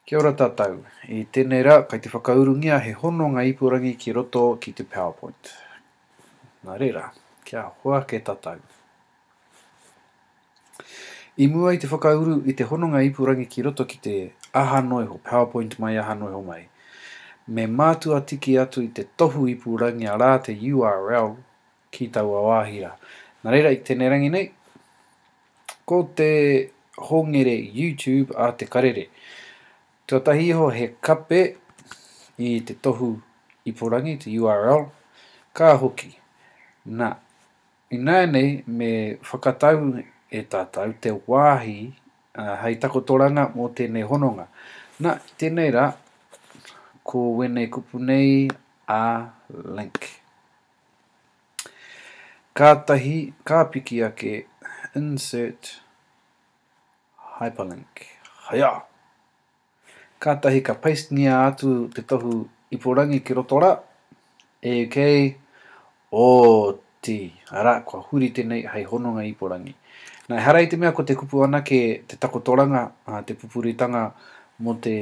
Kia ora tatou. I tenei ra kai te whakaurungia he hononga ipurangi ki roto ki te powerpoint. Na rera. Kia hua ke tatou. I mua i te whakauru i te hononga ipurangi ki roto ki te aha no iho, powerpoint mai aha no iho mai, me matua tiki atu i te tohu ipurangia ra te url ki taua wāhi rā. Nā reira, i tēnei rangi nei, ko te hongere YouTube a Te Karere. Tuatahi iho he kape i te tohu iporangi, te URL, ka hoki. Nā, ināianei me whakatau e tātou te wāhi hei takotoranga mō tēnei hononga. Nā, i tēnei rā, ko wēnei kupu nei a link. Kātahi ka piki ake Insert hyperlink Haia! Kātahi ka pastengia atu te tohu ipurangi ki roto rā. AK, Oti! Arā, kua huri tenei hei hononga ipurangi. Na, ehara i te mea ko te kupu anake te takotoranga, te pupuritanga mo te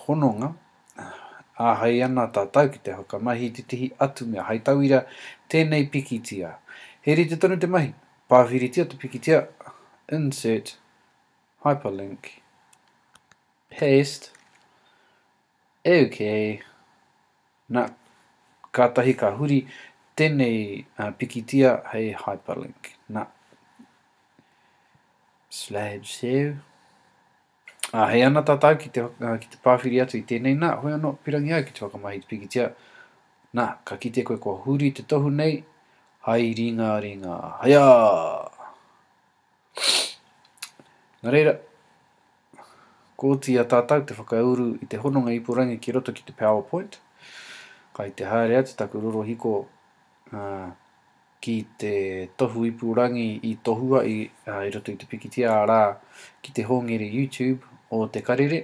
hononga, Āhei ana tātou ki te whakamahi i tētehi atu mea, hei tauira, tēnei pikitia. He rite tonu te mahi, pāwhiritia te pikitia, insert hyperlink, paste, OK, nā, kātahi ka huri tēnei uh, pikitia hei hyperlink. Nā, slideshow, Ā, hei ana tātou ki te, ā, ki te pāwhiri atu i tēnei, nā, hoi anō, pirangi au ki te whakamahi i te pikitia, nā, ka kite koe kua huri te tohu nei, hai ringa ringa, haiā! Nā reira, kōtia tātou te whakauru i te hononga ipurangi ki roto ki te PowerPoint, kai te haere atu taku rorohiko, ā, ki te tohu ipurangi i tohua i roto i te pikitia arā ki te hongere YouTube o Te Karere.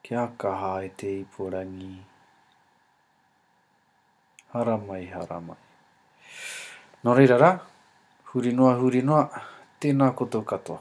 Kia kaha e te ipurangi. Haramai, haramai. Nō reira rā, huri noa, huri noa, tēnā koutou katoa.